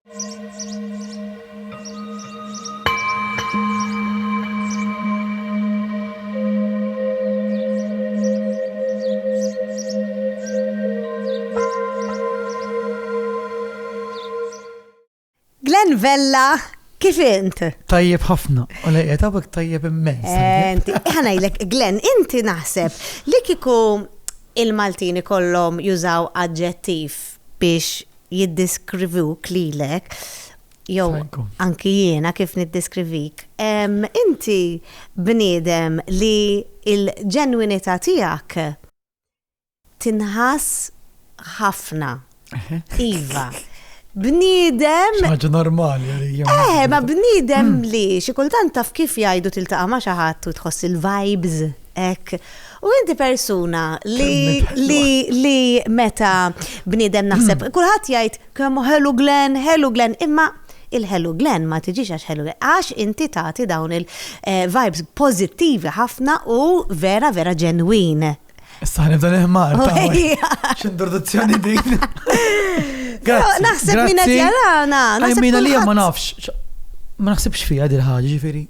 Glenn Vella, kif int? Tajjeb ħafna, u lejja tabek tajjeb immens. Eh, ħanajlek, Glenn, inti naħseb li kiku il-Maltini kollom jużaw adġettiv biex jiddiskrivuk lilek jew anki jiena kif niddiskrivik. Inti bniedem li l-ġenwinità tiegħek tinħass ħafna. Iva. Bniedem. Xi ħaġa normali għalija. Eh, ma bniedem li xi kultant taf kif jgħidu tiltaqa' ma' xi ħadd u tħoss il-vibes. Hekk. U inti persuna li li li meta bniedem naħseb hmm. kulħadd jgħid kemm ħelu Glen, ħelu Glen, imma il-ħelu Glen ma tiġix għax ħelu Glen, għax inti tagħti dawn il-vibes eh, pożittivi ħafna u vera vera ġenwin. Issa nibda neħmar. X'introduzzjoni din. Grazie. Naħseb minna tjarana. Għajmina li ma nafx. Ma naħsebx fija dil-ħagġi, ġifiri.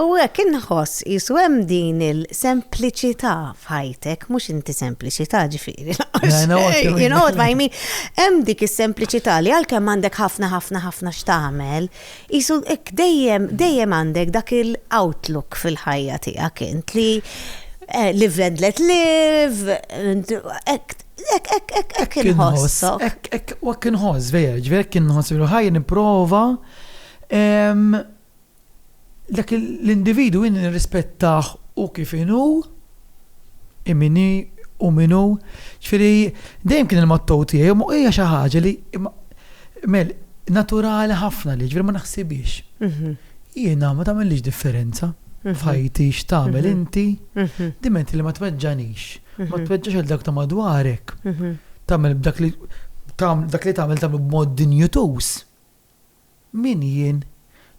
U hekk inħoss qisu hemm din il-sempliċità f'ħajtek, mhux inti sempliċità ġifieri lanqas xejn, you know what I mean? Hemm dik is-sempliċità li għalkemm għandek ħafna ħafna ħafna x'tagħmel, qisu hekk dejjem dejjem għandek dak il-outlook fil-ħajja tiegħek int li eh, live and let live, hekk Ek, ek, ek, ek, inħoss. Ek, ek, ek, inħoss, vera, ġveri, ek, inħoss, vera, ħaj, niprofa. Dak l-individwu jien nirrispettah hu kif inhu, hi min hi, hu min hu. Ġifieri dejjem kien il-motto tiegħi u hija xi ħaġa li Mel, naturali ħafna li ġifieri ma naħsibhiex. Jiena ma tagħmellix differenza f'ħajti x'tagħmel inti, diment li ma tweġġagħnix, ma tweġġax lil dawk ta' madwarek, tagħmel b'dak li tagħmel tagħmel b'mod dinjituż. Min jien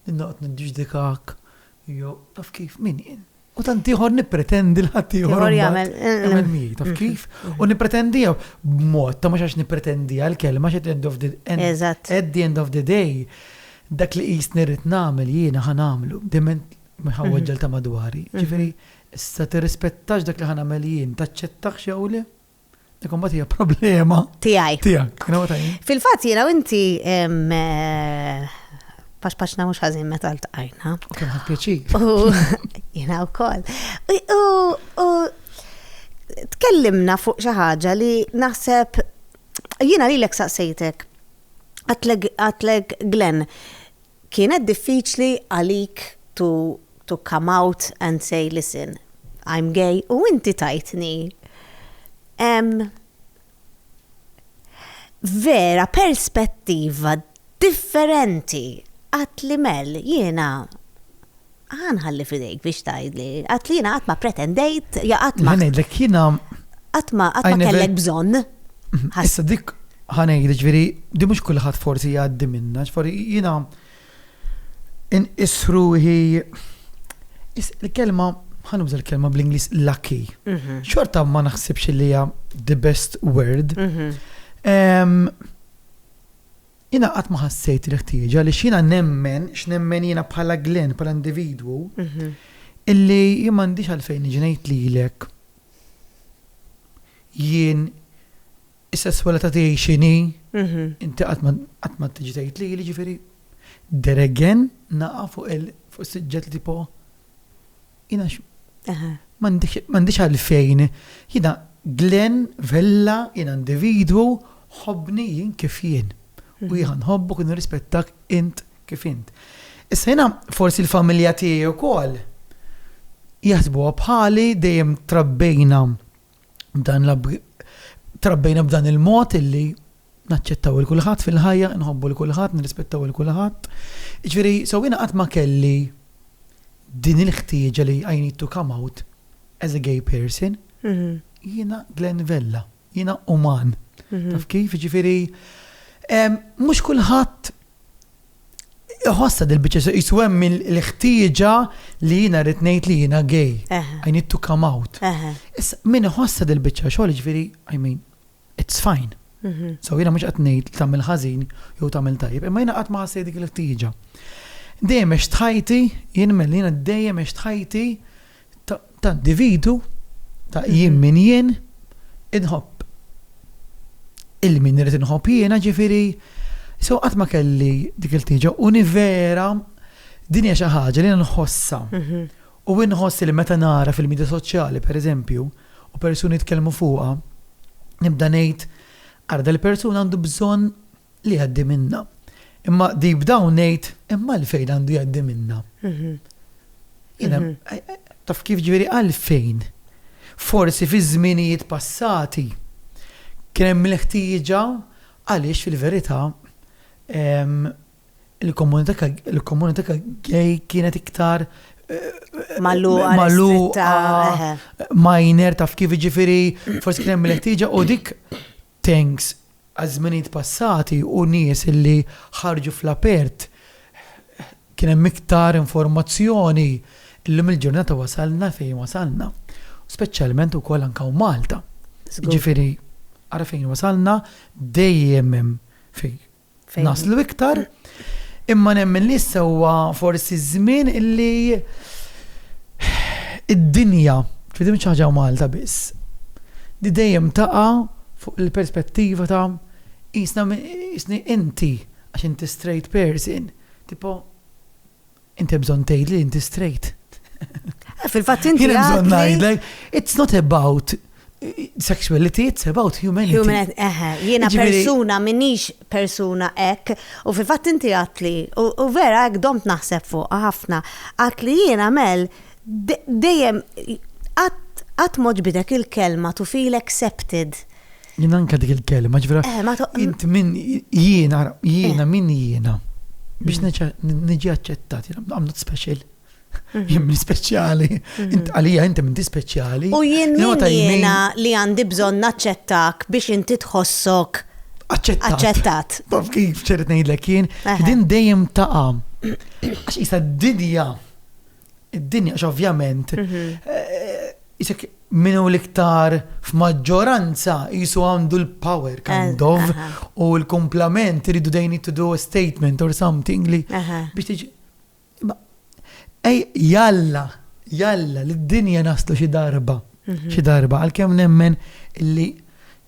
li noqgħod niddiġdikak jew taf kif, min jien? U tant ieħor nippretendi l ħadd ieħor Ieħor jagħmel- jagħmel miegħi, taf kif? U nippretendiha b'mod ta' mhux għax nippretendiha l-kelma għax at the end of the end- Eżatt. at the end of the day dak li qisni rrid nagħmel jiena ħa nagħmlu. Diment ma jħawweġġel ta' madwari. Ġifieri, issa tirrispettax dak li ħa nagħmel jien, taċċettahx jew le? Dik imbagħad hija problema. Tiegħi. Tiegħek. Fil-fatt jiena inti eh, pax paxna mhux ħażin meta ltqajna. U kien ħadd pjaċir. Jiena wkoll. U tkellimna fuq xi ħaġa li naħseb jiena lilek saqsejtek għatlek Glenn Kienet diffiċli għalik to to come out and say listen I'm gay u inti tajtni ehm vera perspettiva differenti għedtli Mel jiena Ħa nħalli f'idejk biex tgħidli. Għad li jiena qatt ma pretendejt, ja qatt ma. Ngħidlek jiena. Qatt ma qatt ma kellek bżonn. Issa dik ħa ngħidlek ġifieri di mhux kulħadd forsi jgħaddi minnha, ġifieri jiena inqis ruħi il-kelma ħa nuża l-kelma bl-Ingliż lucky. Mhm. Xorta ma naħsibx li hija the best word. Mhm. Jiena qatt ma ħassejt il-ħtieġa għaliex jiena nemmen x'nemmen jiena bħala Glenn, bħala individwu, illi jien m'għandix għalfejn niġi ngħid lilek jien is-sesswalità tiegħi x'inhi, inti qatt ma qatt ma tiġi tgħid lili, ġifieri there again naqa' fuq il-suġġett li tipo Jiena m'għandix għalfejn, jiena Glenn Vella, jiena individwu, ħobbni jien kif jien. U jiena nħobbok u nirrispettak int kif int. Issa jiena forsi l-familja tiegħi wkoll jaħsbuha bħali dejjem trabbejna dan trabbejna b'dan il-mod illi naċċettaw 'il kulħadd fil-ħajja, inħobbu 'il kulħadd, nirrispettaw 'il kulħadd. Jiġifieri, so jiena qatt ma kelli din il-ħtieġa li I need to come out as a gay person. Mhm. Jiena Glenn Vella, jiena uman. Mhm. Taf kif, jiġifieri, mhux kulħadd Iħossa dil-bicċa, jisu hemm il-ħtieġa li jina rrit ngħid li jina gay. I need to come out. Issa, min iħossa dil-bicċa xogħol ġifieri, I mean, it's fine. Mhm. So jiena mhux qed ngħid tagħmel ħażin jew tagħmel tajjeb, imma jiena qatt ma ħassejt dik il-ħtieġa. Dejjem għex tħajti, jien mel jiena dejjem għex tħajti ta' individu ta' mhm. jien min jien inħobb. Il-min irid inħobb jiena ġifieri so qatt ma kelli dik il-ħtieġa u vera din hija xi ħaġa li nħossha. Mhm. U inħoss li meta nara fil-midja soċjali, per eżempju, u persuni jitkellmu fuqha, nibda ngħid, ara dal-persuna għandu bżonn li jgħaddi minnha. Imma deep down ngħid, imma għalfejn għandu jgħaddi minnha? Jiena, taf kif ġifieri għalfejn? Forsi fi żminijiet passati kien hemm il-ħtieġa għaliex fil-verità il-komunità gay kienet iktar Malluqa, malluqa, minor, taf kif ġifiri, forsi kien hemm l-ħtieġa u dik tanks għaż-żminijiet passati u nies illi ħarġu fl-apert kien hemm iktar informazzjoni illum il-ġurnata wasalna fejn wasalna. Speċjalment ukoll anke Malta. Ġifiri, għara fejn wasalna dejjem hemm fej naslu iktar, imma nemmen li issa huwa forsi żmien illi id-dinja, ġifieri mhix ħaġa Malta biss, li dejjem taqa' fuq il-perspettiva ta' qisna inti għax inti straight person, tipo Inti bżonn tgħid li inti straight. Eh, fil-fatt inti. Jien bżonn ngħidlek, it's not about sexuality, it's about humanity. Humanity, eħe, jiena persuna, minix persuna ek, u fil fat inti għatli, u vera ek domt naħseb fuq, ħafna, għatli jiena mel, dejjem, għat moġbidek il-kelma to feel accepted. Jien anka dik il-kelma, ġvera. Eh, ma toqgħod. Int min jiena, jiena eh. min jiena. Biex mm. niġi aċċettat, I'm not special. Mm-hmm. Jien min speċjali, mm-hmm. int għalija inti minti speċjali. U jien min jiena li għandi bżonn naċċettak biex inti tħossok aċċettat. Baf kif ċerret ngħidlek jien, din dejjem taqa' għax isa d-dinja id-dinja, ovvjament, jisek eh, minu l-iktar f'maġġoranza jisu għandu l-power eh, kind of u l-komplament rridu they need to do a statement or something li biex tiġi. Ej, jalla, jalla, l-dinja naslu xi darba, mhm. xi darba, għal-kem nemmen li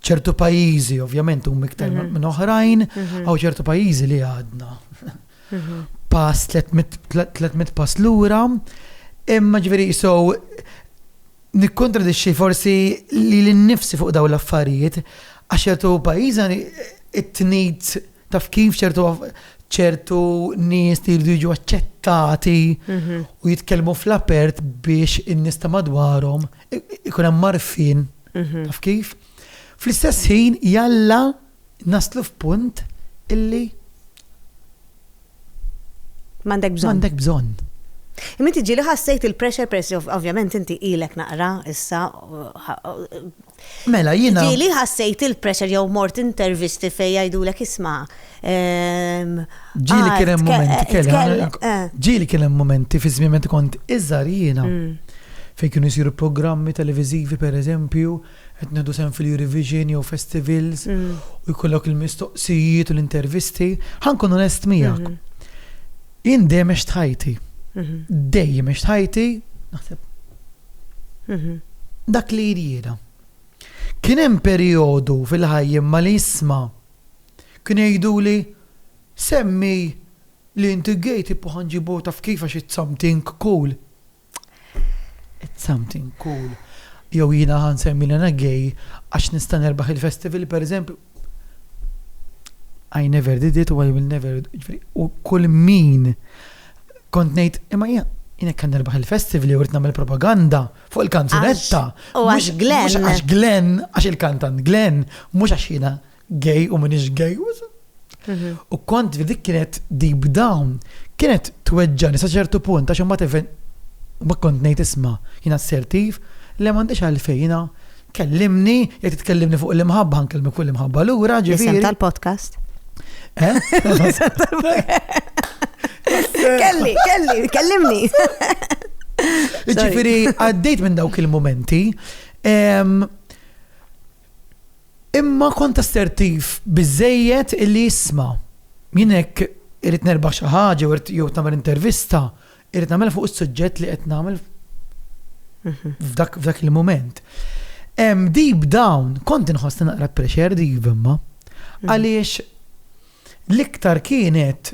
ċertu pajizi, ovvjament, u miktar mhm. minn oħrajn, mhm. għaw ċertu pajizi li għadna. pass, 300 pass lura, imma ġveri so nikkontradixxi forsi li l-nifsi fuq daw l-affarijiet, għax ċertu pajjiżna it-tnid taf kif ċertu ċertu nies li jridu jiġu aċċettati mhm. u jitkellmu fl-apert biex in-nies ta' madwarhom ikun hemm marfin mhm. taf kif. Fl-istess ħin jalla Naslu f'punt illi. M'għandek bżonn. M'għandek bżonn. Imma inti ġieli ħassejt il-pressure peress li ovvjament inti ilek naqra issa. Mela jiena. Ġieli ħassejt il-pressure jew mort intervisti fejn jgħidulek isma'. Ehm, ġieli kien hemm momenti eh. Ġieli kien hemm momenti fi żmien kont iżgħar jiena mm. fejn kienu jsiru programmi televiżivi pereżempju. eżempju qed nieħdu sehem fil-Eurovision jew festivals u jkollok il-mistoqsijiet u l-intervisti, ħa nkun onest miegħek. Jien dejjem għext ħajti. Dejjem għext ħajti, naħseb. Dak li jrieda. Kien hemm perjodu fil-ħajja ma li jisma' kien jgħiduli semmi li inti gay tipo ħanġibu taf kif għax it's something cool. It's something cool. Jew jiena ħa nsemmi li ana gay għax nista' nerbaħ il-festival pereżempju. I never did it u I will never jiġifieri, u kull min kont ngħid imma jien Jien hekk nerbaħ il-festival jew rrid nagħmel propaganda fuq il-kanzunetta. U għax Glenn. Għax Glenn, għax il-kantant Glenn, mhux għax jiena gay u minix gay. U kont li dik kienet deep down, kienet tweġġani sa ċertu punt għax imbagħad even ma kont ngħid isma' jien assertiv, le m'għandix għalfejn jiena kellimni, jekk titkellimni fuq l-imħabba nkellmek fuq l-imħabba lura ġifieri. Isem tal-podcast. Kelli, kelli, kellimni. Ġifiri, għaddejt minn dawk il-momenti. Imma kont assertiv biżżejjed illi jisma'. Jien hekk irrid nerbaħ xi ħaġa jew irrid jew nagħmel intervista, irrid nagħmilha fuq is-suġġett li qed nagħmel f'dak f'dak il-mument. Hemm deep down kont inħoss li naqra pressured iva imma. Għaliex l-iktar kienet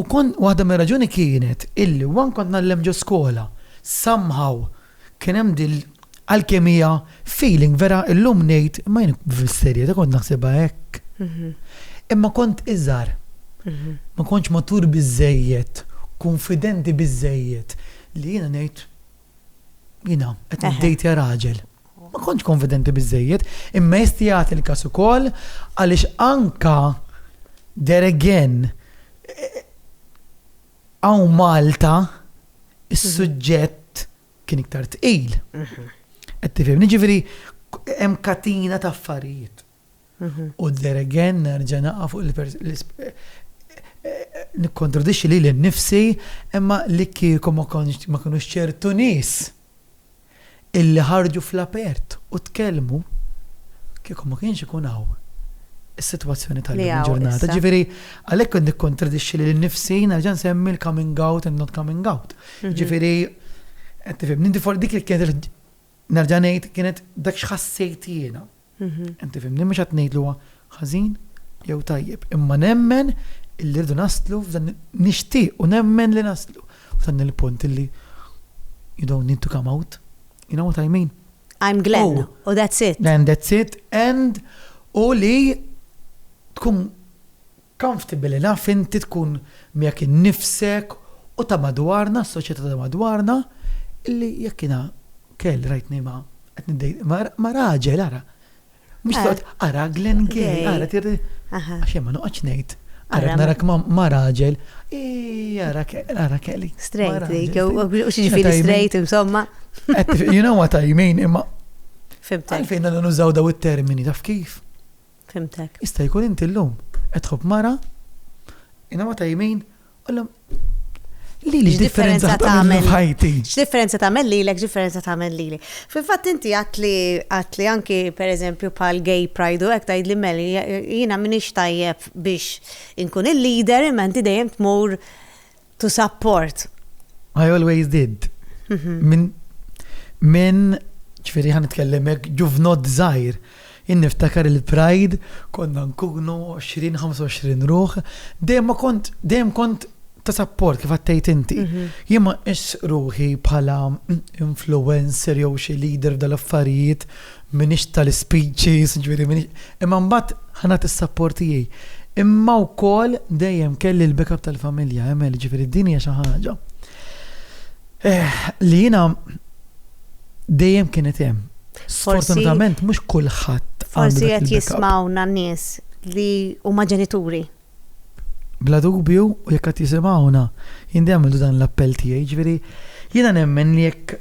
U kont, waħda mir-raġuni kienet illi one kont ngħallem ġo skola, somehow kien hemm din l, alkemija, feeling vera illum ngħid, imma jien fis-serjetà kont naħsibha hekk. Imma kont iżgħar. Ma kontx matur biżżejjed, kunfidenti biżżejjed li jiena ngħid, Jina, qed niddejtja raġel. Ma kontx konfidenti biżejjed, imma jesti jagħti l-każ ukoll għaliex anka there again għaw eh, Malta is-suġġett kien iktar tqil. Qed tifhimni ġifieri hemm katina ta' affarijiet. U there again nerġa' naqa' fuq il-nikkontradixxi lili nnifsi, imma li kieku ma kinux ċertu nies illi ħarġu fl-apert u tkellmu, kieku ma kienx ikun hawn is-sitwazzjoni tal-lum il-ġurnata. Ġifieri, għalhekk qed nikkontradixxi lili nnifsi nerġa' nsemmi l-coming out and not coming out. Ġifieri, qed tifhimni, dik kienet nerġa' ngħid kienet dak x'ħassejt jiena. Inti fimni mhux qed ngħidlu huwa ħażin jew tajjeb, imma nemmen illi rridu naslu f'dan nixtieq u nemmen li naslu f'dan il-punt illi you don't need to come out. You know what I mean? I'm Glenn oh. u that's it. And that's it and u li tkun Comfortable enough inti tkun miegħek innifsek u ta' madwarna, s-soċjetà ta' madwarna, illi jekk jiena kell rajtni ma' qed niddejt ma' raġel ara. Mhux toqgħod ara Glenn gay, ara tirri. Għax jien ma noqgħodx ngħid. Ara narak ma' raġel. Ii ara ara kelli. Straight, u xi ġifieri straight insomma. You know what I mean imma. Fimtek. Għalfejn għandna nużaw daw it-termini taf kif? Fhimtek. Jista' jkun inti llum qed tħobb mara, inama ta' jmin, qollhom Lili x'differenza tagħmel ħajti? X'differenza tagħmel lilek, x'differenza tagħmel lili. Fil-fatt inti għatli għatli anki pereżempju bħal gay pride u hekk tgħidli meli jiena m'iniex tajjeb biex inkun il-leader imma inti dejjem tmur To support. I always did. Mhm. Min, min, ċfiri ħan nitkellemek, ġuvnod zaħir. Jien niftakar il-Pride, konna nkunu 20-25 ruħ, dejjem kont, dejjem kont ta' support kif għattejt inti. Mhm. Jien ma ruħi bħala influencer jew xi leader dal-affarijiet M'iniex tal-ispeeches, jiġifieri m'iniex, imma mbagħad ħa nagħti s-sapport tiegħi. Imma wkoll dejjem kelli l-backup tal-familja, Emel, jiġifieri din hija xi ħaġa li jiena dejjem kienet hemm. Sfortunatament mhux kulħadd. Forsi qed jismgħuna nies li huma ġenituri. Bla dubju, u jekk qed jisimgħuna, jien dejjem għamiltu dan l-appell tiegħi, ġifieri jiena nemmen li jekk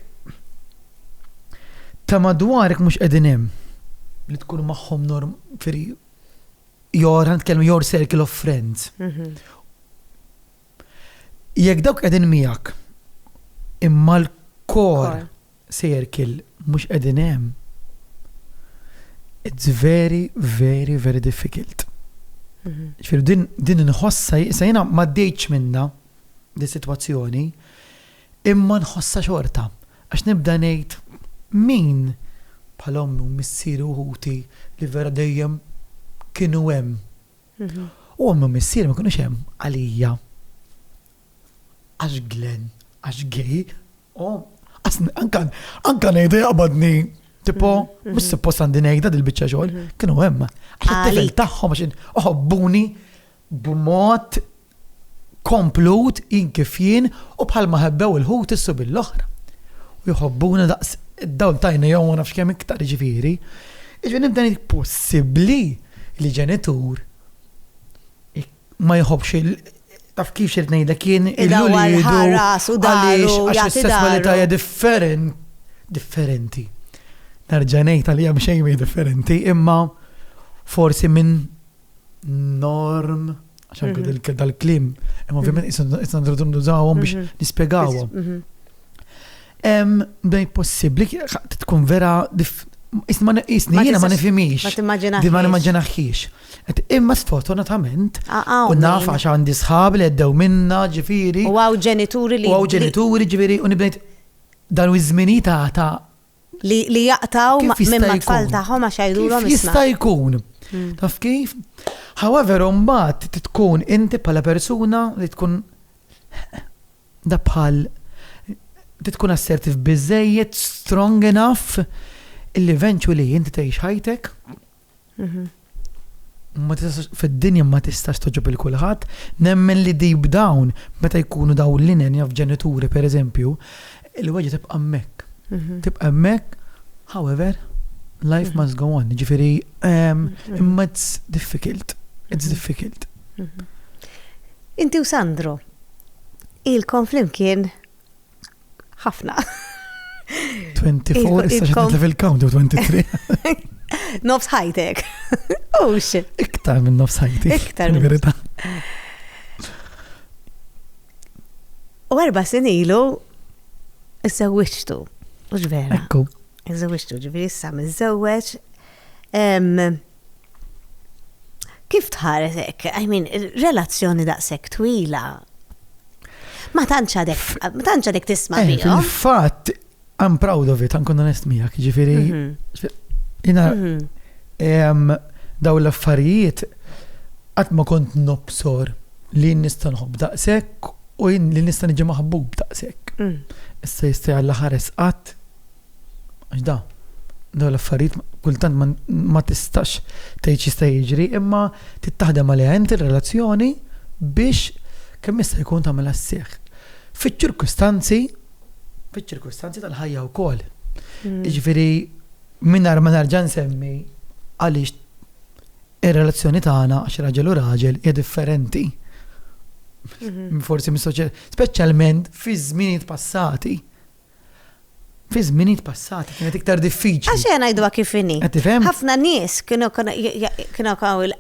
ta' madwarek mhux qegħdin hemm li tkun magħhom norm firi your, nitkellmu your circle of friends. Mhm. Jekk dawk qegħdin miegħek imma l-core circle mhux qegħdin hemm, it's very, very, very difficult. Mhm. Ġifieri din din inħossha sa jiena ma dejtx minna di sitwazzjoni, imma nħossha xorta. Għax nibda ngħid min bħal ommi u missieri u ħuti li vera dejjem kienu hemm U ommi u missieri ma kinux hemm għalija għax Glenn, għax gay, u anka ngħidu jaqbadni Tipo, mhm, mux mhm. suppost għandi nejda dil-bicċa xogħol, mhm. kienu hemm. Għax it-tifel tagħhom għax oħobbuni b'mod komplut, jien kif jien, u bħalma ħebbew il-ħut is-subien l-oħra. U jħobbuna daqs id-dawl t'għajnejhom u ma nafx kemm iktar, jiġifieri. Jiġifieri nibda ngħid possibbli li ġenitur ma jħobbx il taf kif xirrid ngħidlek jien il-ulidu għaliex għax is-sesswalità hija differenti. Nerġa' ngħid għalija mhux xejn differenti, imma forsi minn norm, għax anke mhm. dal-klim, imma ovvjament mhm. isna nridu nużawhom biex mhm. nispjegawhom. Bdejt possibbli tkun vera Isma isni jiena ma nifimix. Di ma nimmaġinaħiex. Imma sfortunatament, u naf għax għandi sħab li għeddew minna ġifiri. U għaw ġenituri li. U għaw ġenituri ġifiri u nibdejt dan u izmini ta' ta' Li jaqtaw minn mat-tfal tagħhom għax jgħidulhom isma'. Jista' jkun. Hmm. Taf kif? However, mbagħad tkun inti bħala persuna li tkun da bħal tkun assertiv biżejjed, strong enough, illi eventually inti tgħix ħajtek fid-dinja ma tistax toġob il kulħadd, nemmen li deep down meta jkunu daw l-inen jaf ġenituri per eżempju, il-weġa tibqa' hemmhekk. Mhm. Tibqa' hemmhekk, however, life mhm. must go on, ġifieri ehm, mhm. imma it's difficult, it's difficult. Inti u Sandro, il-konflim kien ħafna. 24, issa xedna fil-count 23. Nofs ħajtek. Oh shit. Iktar minn nofs ħajtek. Iktar minn verita. U erba sin ilu, iżżewwiġtu. Mhux vera. Ekku. Iżżewwiġtu, ġifieri issa miżżewweġ. Kif tħares hekk? I mean, relazzjoni daqshekk twila. Ma tantx għadek, ma tantx għadek tisma' eh, fihom. Fil-fatt, I'm proud of it, għankun onest miegħek, ġifieri. Mhm. Jina, mhm. daw l-affarijiet qatt ma kont nobsor li nista' nħobb daqshekk u li nista' niġi maħbub daqshekk. Mm. Issa jista' jalla ħares qatt Għax da, dawn l-affarijiet kultant ma tistax tgħid x'jista' jiġri, imma tittaħdem għaliha inti r-relazzjoni biex kemm jista' jkun tagħmilha sseħħ. Fiċ-ċirkustanzi, fiċ-ċirkustanzi tal-ħajja wkoll. Mm. Jiġifieri mingħajr ma nerġa' nsemmi għaliex ir-relazzjoni tagħna għax raġel u raġel hija differenti. Mhm. Forsi mis-soċjetà, speċjalment fi żminijiet passati Fi żminijiet passati kienet iktar diffiċli. Għax ejja ngħiduha kif inhi. Qed tifhem? Ħafna nies kienu kienu kaw il-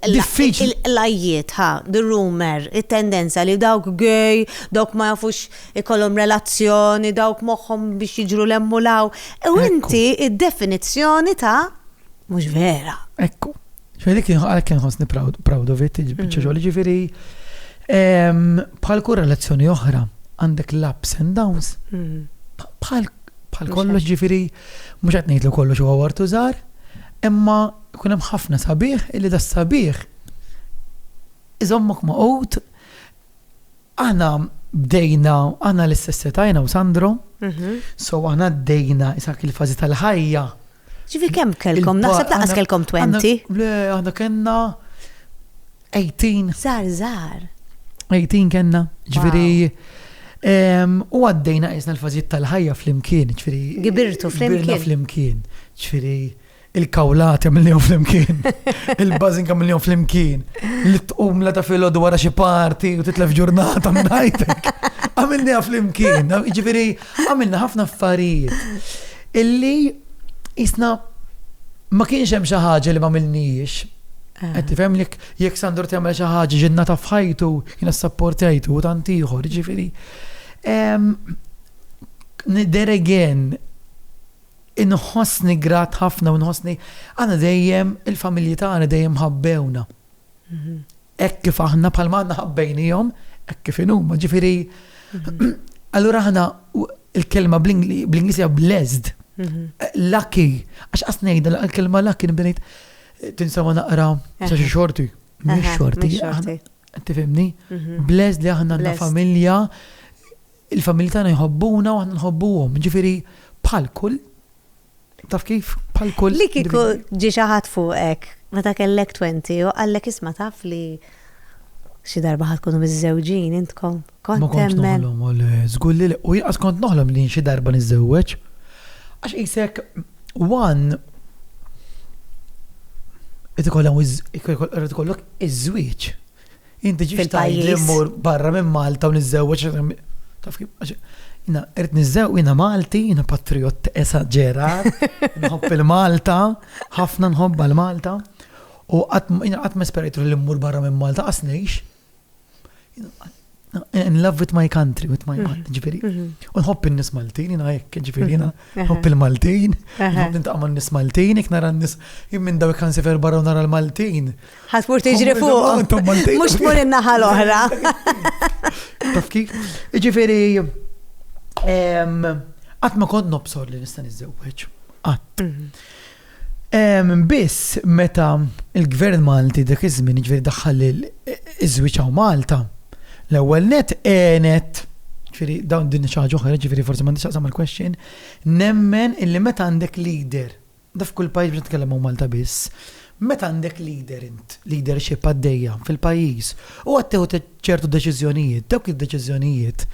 Diffiċli. l-ajjiet, ħa, the rumor, it-tendenza li dawk gay, dawk ma jafux ikollhom relazzjoni, dawk moħħhom biex jiġru 'l hemm u 'l hawn. U Ekku. inti id-definizzjoni ta' mhux vera. Ekku. Ġifieri kien għalhekk kien ħossni proud of it, biċċa xogħol. Ġifieri bħal kull relazzjoni oħra għandek l-ups and downs. Bħal bħal kollox ġifiri, mux għat nejtlu kollox u għawartu zar, imma kun hemm ħafna sabiħ illi da sabiħ iżommok ma' qut Aħna bdejna, aħna l-istess età jiena u Sandro, so aħna bdejna isak il-fażi tal-ħajja. Ġifi kemm kellkom? Naħseb laqas kellkom 20. Le, aħna kellna 18. Zar, zar. 18 kellna, ġifieri. U għaddejna isna l-fażijiet tal-ħajja flimkien, ġifieri. Gibirtu flimkien. Gibirna flimkien, ġifieri. il-kawlata mill-jom flimkien, il-bazinka mill-jom flimkien, li tqum la ta' filo dwar xi parti u titlef ġurnata minn ħajtek. Għamilni flimkien, ġifiri, għamilna ħafna affarijiet. Illi jisna ma kienx hemm xi ħaġa li ma milniex. Ah. Qed tifhem li jekk Sandro tagħmel xi ħaġa ġinna ta' fħajtu, jiena sapportajtu u tant ieħor, ġifieri. There again, Inħossni grat ħafna u nħossni aħna dejjem il-familji tagħna dejjem ħabbewna. Hekk kif aħna bħalma aħna ħabbejnihom, hekk kif inhuma, ġifieri allura aħna il-kelma bl-Ingliż hija blessed. Lucky, għax qas ngħidha l-kelma lucky nbdejt tinsama naqra sa xi xorti. Mhix xorti. Tifhimni? Blessed li aħna għandna familja Il-familji tagħna jħobbuna u aħna nħobbuhom, jiġifieri bħal kull taf kif bħal kull. Li kieku ġie xi ħadd fuqek meta kellek 20 u qallek isma' taf li xi darba ħad tkunu miżżewġin intkom. Kont temmen. Żgur li u jaqas kont noħlom li xi darba niżżewweġ. Għax qisek one qed ikollok iż-żwieġ. Inti ġiex tgħidli mmur barra minn Malta u niżżewweġ taf kif jina qed niżżew jina Malti, jina patriot esaġera, nħobb il-Malta, ħafna nħobba l-Malta. U qatt ma esperajtu li mmur barra minn Malta qas ngħix. in love with my country, with my mind, mhm. ġifiri. Mhm. U nħobb il-nis Maltin, jina jek, ġifiri, jina mhm. nħobb il-Maltin, nħobb nintaqma n-nis Maltin, jek nara n-nis, jim minn daw kan sefer barra nara l-Maltin. Ħasbur tiġri fuq, mux tmur in-naħa l-oħra. Taf kif? Ġifiri, għat ma kont nobsor li nista' nizzewweġ. Għat. Biss meta l-Gvern Malti dak iż-żmien, jiġifieri daħħal iż-żwieġ hawn Malta, l-ewwel nett għenet, jiġifieri dawn din xi ħaġa oħra, jiġifieri forsi m'għandhiex x'taqsam mal-question, nemmen illi meta għandek leader, da f'kull pajjiż mhux qed nitkellem hawn Malta biss, meta għandek leader int, leadership għaddejja fil-pajjiż u qed tieħu ċertu deċiżjonijiet, dawk id-deċiżjonijiet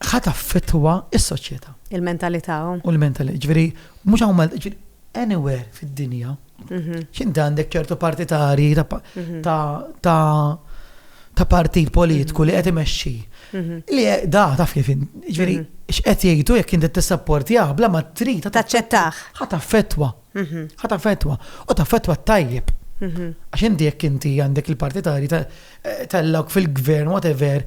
ħa taffettwa s-soċjetà. Il-mentalità. U l-mentalità, jiġifieri Mhux hawn Malta, ġifieri anywhere fid-dinja, x'inti għandek ċertu partitari ta' ta' partit politiku li qed imexxi. Li da taf kif ġifieri x'qed jgħidu jekk inti tissapportjah bla ma trid taċċettah. Ħa taffettwa. Ħa taffettwa. U taffettwa t-tajjeb. Għax inti jekk inti għandek il-partitari tellgħuk fil-gvern whatever,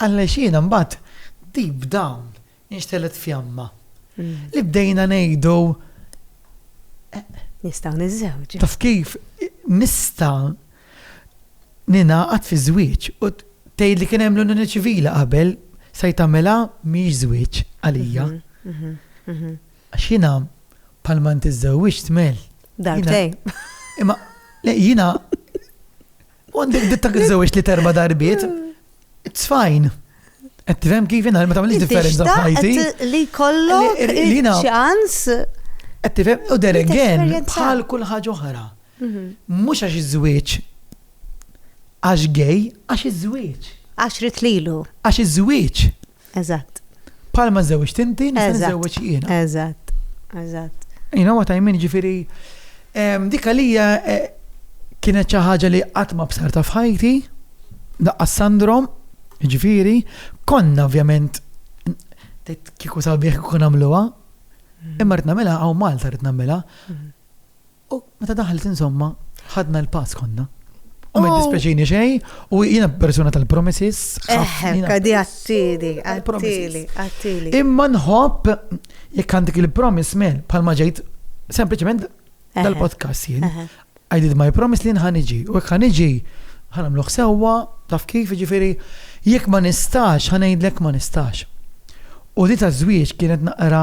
Għaliex jiena mbagħad deep down inxtegħlet fjamma li bdejna ngħidu, eh. Nistgħu niżżewġu. Taf kif nista' ningħaqad fi żwieġ u tgħid li kien hemm l-unjoni ċivili qabel sa jtagħmilha mhijiex żwieġ għalija. Mhm, mhm, mhm. Għax jiena bħalma ntiżżewwiġt mel. Darbtej. Imma jiena U għandek dittak iżżewġ li terba darbiet, it's fine. Qed tifhem kif inha ma tagħmilx differenza f'ħajti. Li kollok ċans. Qed tifhem u there again bħal kull ħaġa oħra. Mhm. Mhux għax iż-żwieġ għax gej, għax iż-żwieġ. Għax rit lilu. Għax iż-żwieġ. Eżatt. Palma żewġ tinti, nista' nżewġ jiena. Eżatt. Eżatt. You know what I mean, ġifiri, dik għalija e, kienet xi ħaġa li qatt ma bsarta f'ħajti, daqqa sandrom, ġifiri, konna ovvjament kiku sabiħ kun għamluha, mm. imma rrid nagħmilha hawn Malta rrid nagħmilha. Mm. U meta daħlet insomma, ħadna l-pass konna. U ma dispjaċini xej, u jiena persuna tal-promises. Eħħekka di għattili, għattili, għattili. Imma nħobb jekk għandek il-promise mel, palma ġejt, sempliciment dal-podcast jien. I did my promise li nħan iġi, u jekk ħan iġi, ħanamluħ sewa, taf kif ġifiri, jekk ma nistax, ħanajdlek ma nistax. U di ta' żwieġ kienet naqra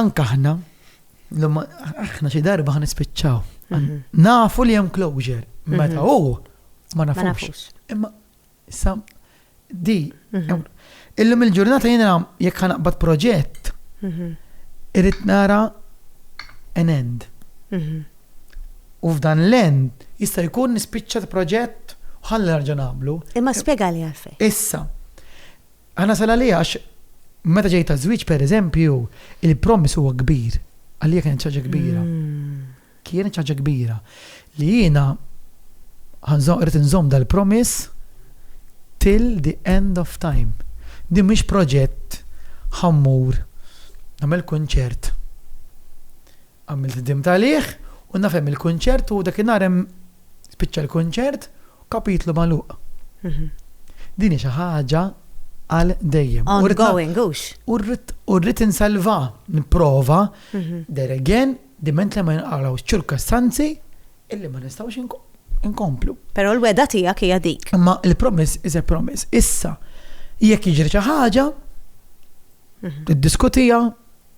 Anke aħna, aħna xi darba ħa nispiċċaw. Mhm. Nafu li hemm closure, meta mhm. hu ma nafux. Imma sa di mhm. illum il-ġurnata jiena jekk ħanaqbad proġett irrid nara an end. U f'dan l-end jista' jkun nispiċċa proġett ħalli nerġa' nagħmlu. Imma spjegali għalfejn. Issa, Għal nasal għalih għax meta ġejt għaż-żwieġ pereżempju, il-promise huwa kbir. Għalija kienet xi ħaġa kbira. Kienet xi ħaġa kbira li jiena rrid inżomm dal-promise till the end of time. Din mhix proġett ħa mmur nagħmel kunċert. Għamilt ħdimt għalih u nafhem il-kunċert u dakinhar hemm Spiċċa l-kunċert u kapitlu magħluq. Din hi xi ħaġa għal dejjem. U rrid Ongoing, hux? u rrid- u rrid insalva, nipprova, there again, diment li ma jinqalgħux ċirkostanzi illi ma nistgħux inko- inkomplu. Però l-wegħda tiegħek hija dik. Imma il-promise is a promise. Issa, jekk jiġri xi ħaġa, tiddiskutija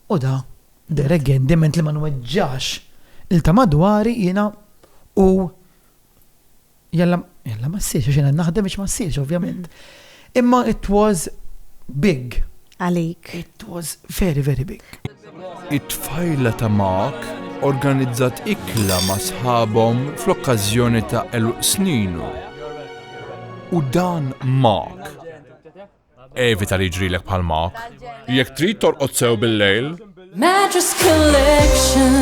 u da Derek Gen diment li ma nweġġax il ta madwari jiena u jalla jalla ma ssirx għax jiena naħdem biex ma ssirx ovvjament. Imma it was big. Għalik. It was very very big. It-tfajla ta' Mark organizzat ikla ma' sħabhom fl-okkażjoni ta' eluq sninu. U dan Mark Evita li jiġrilek bħal Mark. Jekk trid torqod sew bil-lejl. Mattress Collection.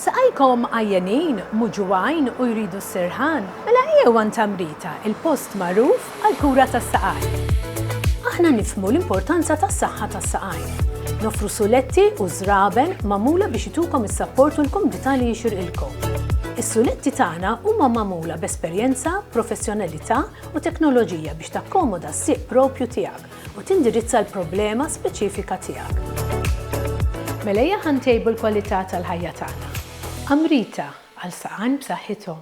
Saqajkom għajjenin, muġugħin u jridu s-sirħan? Mela ejjew għand Tamrita, il-post magħruf għall-kura tas-saqajn. Aħna nifhmu l-importanza tas-saħħa tas-saqajn. Nofru suletti u żraben magħmula biex itukom is-sapport u l-kumdità li jixirqilkom. Is-suletti tagħna huma magħmula b'esperjenza, professjonalità u teknoloġija biex takkomoda s-sieq proprju tiegħek u tindirizza l-problema speċifika tiegħek. Mela ejja ħa ntejbu l-kwalità tal-ħajja tagħna. Amrita, għal saqajn b'saħħithom.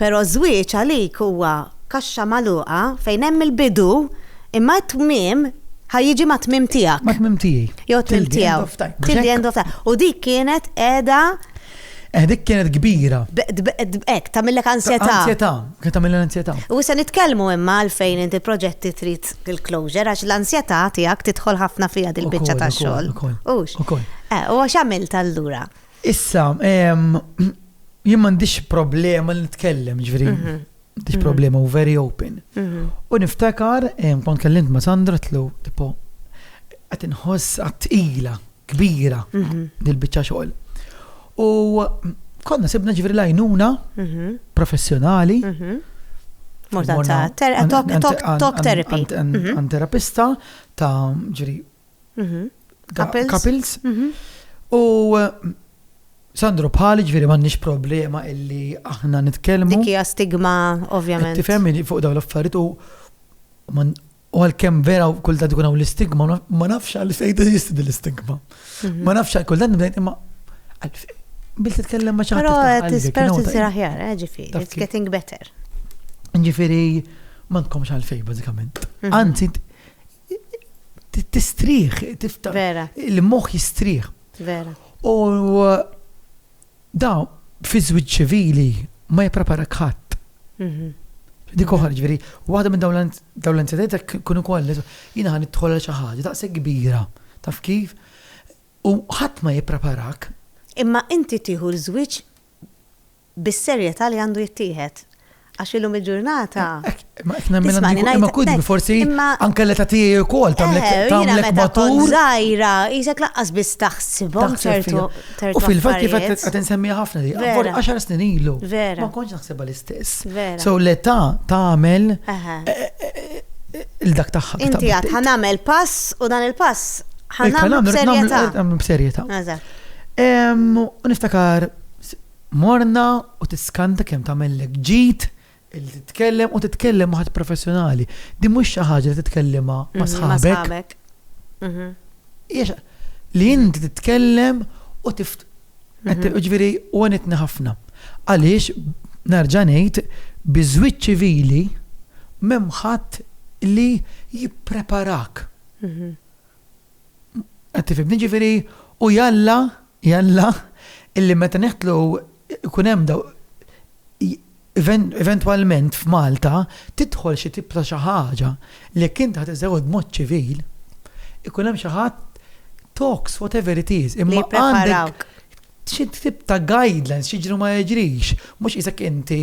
Però ż-żwieġ għalik huwa kaxxa magħluqa fejn hemm il-bidu imma t-tmiem ħa jiġi mat-tmiem tiegħek. Mat-tmiem tiegħi. Jew t-tmiem tiegħu. Till the end of time. U dik kienet qiegħda. Eh dik kienet kbira. Hekk, tagħmillek ansjetà. Ansjetà, kienet tagħmillek ansjetà. U se nitkellmu imma għalfejn inti proġetti trid il-closure għax l-ansjetà tiegħek tidħol ħafna fiha dil-biċċa tax-xogħol. Ukoll. Ukoll. Eh, u għax għamilt allura? Issa, jien m'għandix problema li nitkellem, ġveri, mhm. m'għandix mhm. problema u very open. Mhm. U niftakar, kont kellimt ma' Sandra tlu, tipo, għat nħoss għat ila kbira dil-bicċa xogħol. U konna sibna ġveri lajnuna professjonali. Morta ta' talk therapy. Għan terapista ta' ġveri Mhm. Couples. Mhm. U Sandro bħali ġviri m'għandniex problema illi aħna nitkellmu. Dik hija stigma ovvjament. Tifhem fuq dawn l-affarijiet u u għalkemm vera kulta tkun hawn l-istigma, ma nafx għal fejn teżisti din l-istigma. Mhm. Ma nafx għal kulta nibdejt imma bil titkellem ma ċaħta. Però tispert isir aħjar, eh, ġifieri, it's getting better. Ġifieri ma tkomx għal fejn bażikament. Mhm. Anzi, Tistrieħ, tiftaħ. Vera. Il-moħħ jistrieħ. Vera. U da fi żwieġ ċivili ma jippreparak ħadd. Mhm. Dik oħra ġifieri, waħda minn dawn l-incidenti kun ukoll jiena ħan idħol xi ħaġa daqshekk kbira. Taf kif? U ħadd ma jippreparak. Imma inti tieħu l-żwieġ bis-serjetà li għandu jittieħed. Għax illum il-ġurnata. Ma qed nemmilha dik il-kelma, ma kulli forsi anke l-età tiegħi wkoll tagħmlek tagħmlek matur. Jiena meta kont żgħira, qisek laqqas biss taħsibhom ċertu tertu. U fil-fatt kif qed insemmiha ħafna li għabbor 10 snin ilu. Vera. Ma kontx naħsibha l-istess. Vera. So l-età tagħmel il-dak tagħha. Inti għad ħanamel pass u dan il-pass ħanamel b'serjetà. Ħanamel b'serjetà. Niftakar S, Morna u tiskanta kemm tagħmellek ġid illi titkellem u titkellem ma' ħadd professjonali. Din mhux xi ħaġa li titkellimha ma' sħabek. Hija xi li inti titkellem u tif ġifieri u għenitni ħafna. Għaliex nerġa' ngħid bi żwieġ ċivili m'hemm ħadd li jippreparak. Qed tifhimni? Ġifieri u jalla Jalla, illi meta neħtlu jkun hemm daw, eventwalment f'Malta tidħol xi tip ta' xi ħaġa li jekk int ħa tiżżewweġ b'mod ċivil, ikun hemm xi ħadd talks whatever it is, imma għandek xi tip ta' guidelines x'jiġri u ma jiġrix, mhux qisek inti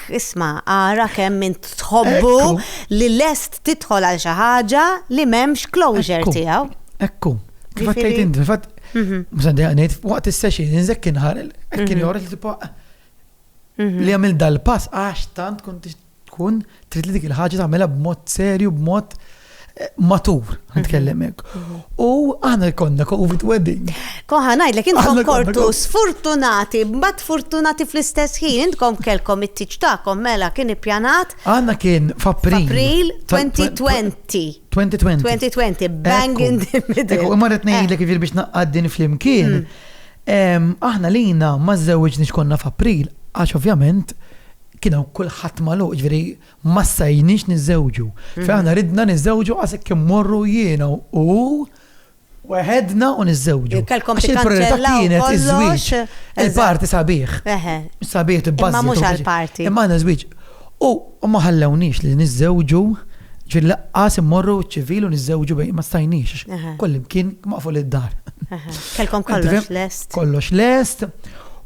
Għalhekk, isma', ara kemm int tħobbu li lest tidħol għal xi ħaġa li m'hemmx closure tiegħu. Ekku, kif qed tgħid int, fil-fatt, mhm. msandejja ngħid, waqt is-session, inżekk inħar, hekk kien mhm. joħroġ li tibqa' mhm. li għamil dal-pass għax tant kont tkun trid li dik il-ħaġa tagħmilha b'mod serju, b'mod matur, nitkellem hekk. U aħna jkollna COVID wedding. Koħa ngħidlek intom kortu sfortunati, mbagħad fortunati fl-istess ħin, intkom kelkom it-tiġ tagħkom mela kien ippjanat. Għandna kien f'April. 2020. 2020. 2020, bang in the middle. Ekku, imma rrid ngħidlek eh. biex naqqaddin flimkien. Hmm. Aħna lina ma żewġniex konna f'April, għax ovvjament kienu kulħadd maluq, ġveri Ma stajniex niżżewġu. Fejn aħna ridna niżżewġu għas hekk immorru jiena u hu weħedna u niżżewġu. Kellkom tikkanċellaw kollox. Il-party sabiħ. Sabiħ tibbażi. Ma mhux għall-party. Imma għandna żwieġ. U ma ħallewniex li niżżewġu ġil laqqas immorru ċivil u niżżewġu bejn ma stajniex. Kollim kien maqfu id-dar. Kellkom kollox lest. Kollox lest.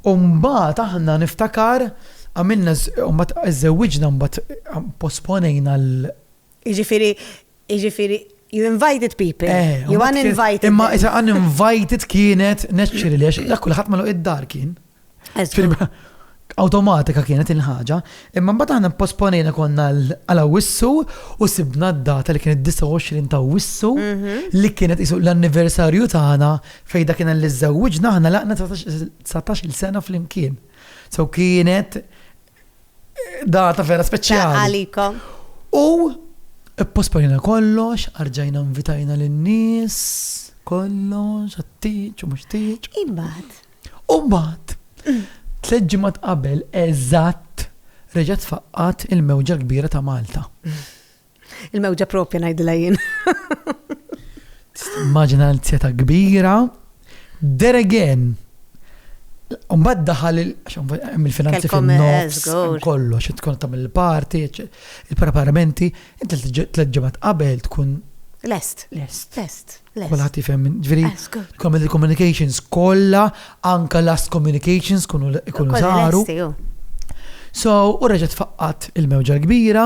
U mbagħad aħna niftakar Għamilna u mbagħad żżewwiġna mbagħad posponejna l- Jiġifieri, jiġifieri, you invited people, you uninvited. Imma is uninvited kienet neċċiri li għax dak kulħadd malu id-dar kien. Awtomatika kienet il-ħaġa, imma mbagħad aħna posponejna konna għal wissu u sibna d-data li kienet 29 ta' wissu li kienet isu l-anniversarju tagħna fejn dak kien li żżewwiġna aħna laqna 19 il-sena flimkien. So kienet data vera speċjali. Għalikom. U posponina kollox, arġajna invitajna l-nis, kollox, għattiċ, u mux tiċ. Imbat. Umbat. Tleġġimat qabel, eżatt, reġat faqqat il-mewġa kbira ta' Malta. Il-mewġa propja ngħidilha jien. Maġina l-zjeta kbira. There again. Umbad daħal il-finanzi fin-nofs, kollu, xi tkun tam il-parti, il-preparamenti, inti t-leġġemat qabel tkun. Lest. Lest. Lest. Kulħat jifem, ġviri, common communications kolla, anka last communications kunu saru. So, u reġet faqqat il-mewġa l-kbira,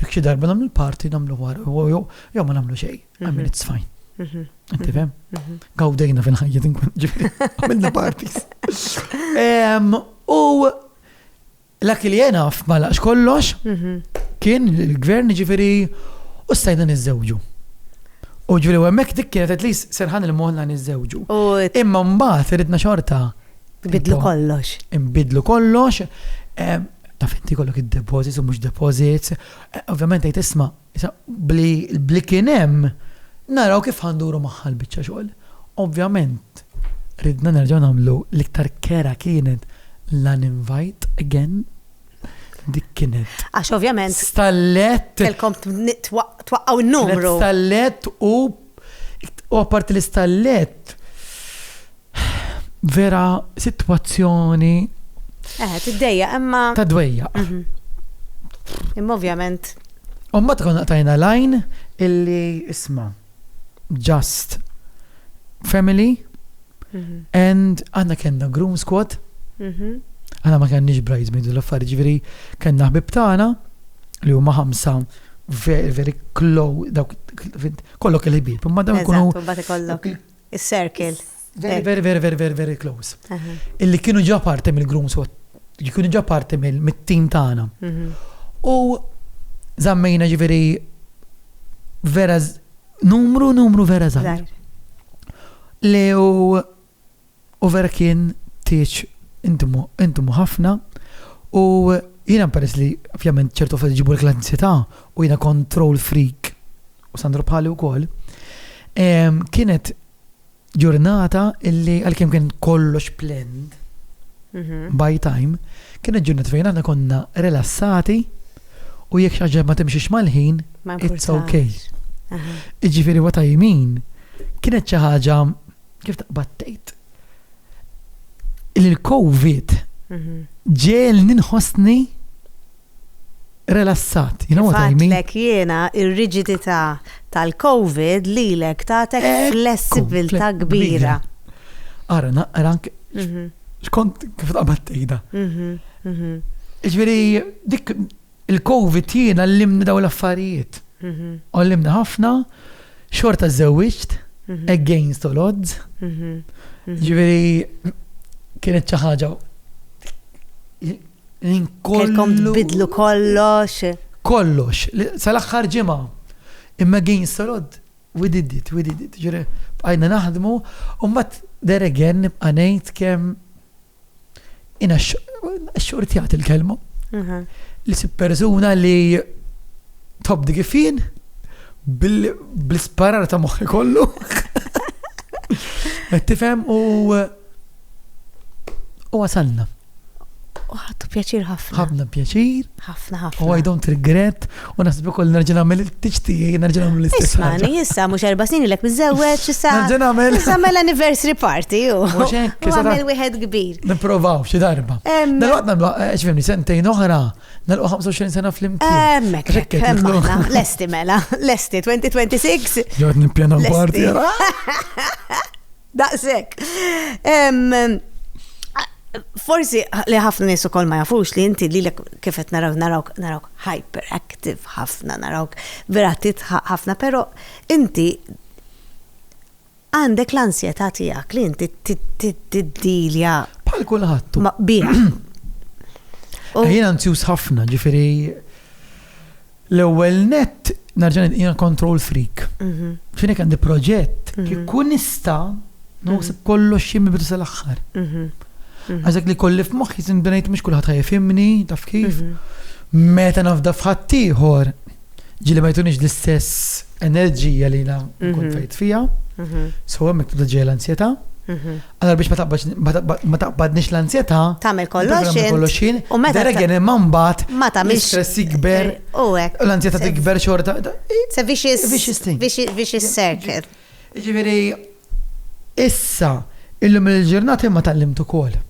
Jekk xi darba nagħmlu l-party nagħmlu war jew ma nagħmlu xejn, I mean it's fine. Inti fem? Gawdejna fil-ħajja din kont ġifieri, għamilna parties. U l-ak li jena f'malaqx kollox kien il-gvern ġifieri u stajna niżżewġu. U ġviri, u għemmek dik kienet at least serħan il-moħna nizzewġu. Imma mbaħt, ridna xorta Nbidlu kollox. Nbidlu kollox. Eh, ta' finti kollok id-deposits u mux deposits. Eh, ovvjament għajt isma, bli kienem, naraw kif għanduru maħħal bieċa xogħol. Ovvjament, ridna nerġaw namlu l-iktar kera kienet l-uninvite again dik kienet. Għax ovvjament. Stallet. Kelkom twaqqaw n-numru. Stallet u U apparti l-istallett, vera situazzjoni. Eh, t-dejja, imma. Ta' dwejja. Mhm. Imma ovvjament. U ma tkun tajna lajn illi isma. Just family. And aħna kellna groom squad, aħna ma kellniex bridesmaids u l-affarijiet ġifieri kellna ħbib tagħna li huma ħamsa very, very close, dawk kollok il-ħbib, imma dawn ikunu. Eżatt, u bat ikollok is-circle. Very, very, very, very, very, very close. Illi kienu ġa parti mill-groom squad, kienu ġa parti mill-team tagħna. U zammejna ġifieri vera Numru, numru vera żgħir. Li u vera kien tieġ indmu ħafna u jiena peress li ovvjament ċertu fil ġibu l-klansità u jiena control freak u Sandro Pali u kol, kienet Ġurnata illi għalkemm kien kollox planned mhm. by time, kienet ġurnata fejn aħna konna rilassati u jekk xi ħaġa ma timxiex mal-ħin, it's okay. Iġifieri what I mean, kienet xi ħaġa kif taqbattejt. Il-COVID mhm. ġel ninħossni Relassat, you know what I mean? Fatlek jiena ir-riġidità tal-Covid lilek tagħtek flessibilità kbira. Ara, naqra anke mhm. xkont kif taqbad tgħidha. Mhm, mhm. Ġifieri dik il-Covid jiena llimni daw l-affarijiet. Għallimni ħafna, xorta żewġt, against all odds. Ġifieri kienet xi ħaġa Kelkom tbidlu kollox. Kollox. Sal-aħħar ġimgħa. Imma again solod, we did it, we did it. Ġiri, bqajna naħdmu, u mbagħad there again nibqa' ngħid kemm ina xorti għat il-kelma. Li si persuna li top di kifin bl-sparar ta' moħħi kollu. Tifhem u u għasanna. Ħadtu pjaċir ħafna. Ħafna pjaċir. Ħafna ħafna. U I don't regret u naħsbu kol nerġa' nagħmel il-tixti nerġa' nagħmel l-istess. Ismani, issa mhux erba' snin ilek miżewweġ issa. Nerġa' nagħmel. Issa mela anniversary party u. Mhux hekk. Nagħmel wieħed kbir. Nipprovaw xi darba. Dalwaqt nagħmlu eh, x'fimni sentejn oħra, nagħlqu 25 sena flimkien. Hemmhekk. Hemmhekk. Lesti mela, lesti 2026. Jod nippjana party. Daqshekk. Forsi li ħafna nies ukoll ma jafux li inti lilek kif qed naraw narawk narawk hyperactive ħafna, narawk vera titħaq ħafna, però inti għandek l-ansjetà tiegħek li inti tiddilja. Bħal kulħadd. Bih. Jien anzjuż ħafna, ġifieri L-ewwel nett nerġa' ngħid jiena control freak. Mhm. X'inhi kemm di proġett mhm. kif kun nista' nħossib mhm. kollox xi mibdu sal-aħħar. Għażek li kolli f'moħħi sin ngħid mhux kulħadd ħajfimni, taf kif. Meta nafda f'ħadd ieħor ġili ma jtunix l-istess enerġija li jina nkun fejt fija. So hemmhekk tibda ġejja l-ansjetà. Allura biex ma taqbadnix l-anzjetà, tagħmel kollox int, u meta regen imma mbagħad ma tagħmilx stress jikber u hekk. U l-anzjetà tikber xorta. Se vicious vicious circle. Jiġifieri issa illum il-ġurnata imma tgħallimt ukoll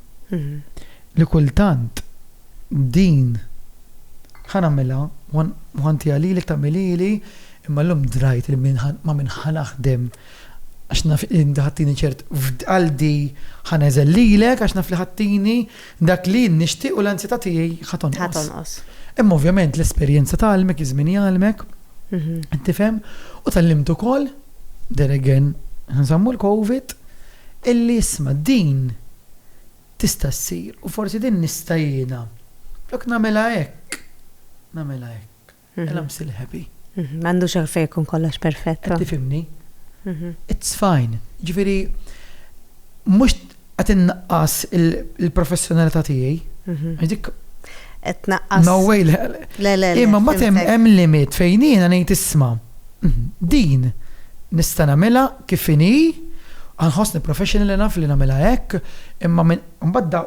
li kultant din ħa nagħmilha u ħantiha lilek tagħmilha li imma llum drajt li ma minn ħa naħdem Għax naf li inti ħattini ċert f'qalbi ħa neżel lilek għax naf li ħattini dak li jien nixtieq u l-anzjetà tiegħi ħa tonqos. Imma ovvjament l-esperjenza tgħallmek, iż-żmien jgħallmek, mhm. tifhem, u tallimt ukoll, there again, nżammu l-COVID, illi isma' din tista' ssir u forsi din nista' jiena. Flok nagħmilha hekk, nagħmilha hekk. and I'm still happy. M'għandux għalfejn ikun kollox perfett. Qed tifhimni? It's fine. Jiġifieri mhux qed innaqqas il-professjonalità tiegħi. Għax dik qed tnaqqas. No way. Le, le. Imma ma hemm limit fejn jiena ngħid isma' din nista' nagħmilha kif inhi, ħossni professional enough li nagħmilha hekk, imma mbagħad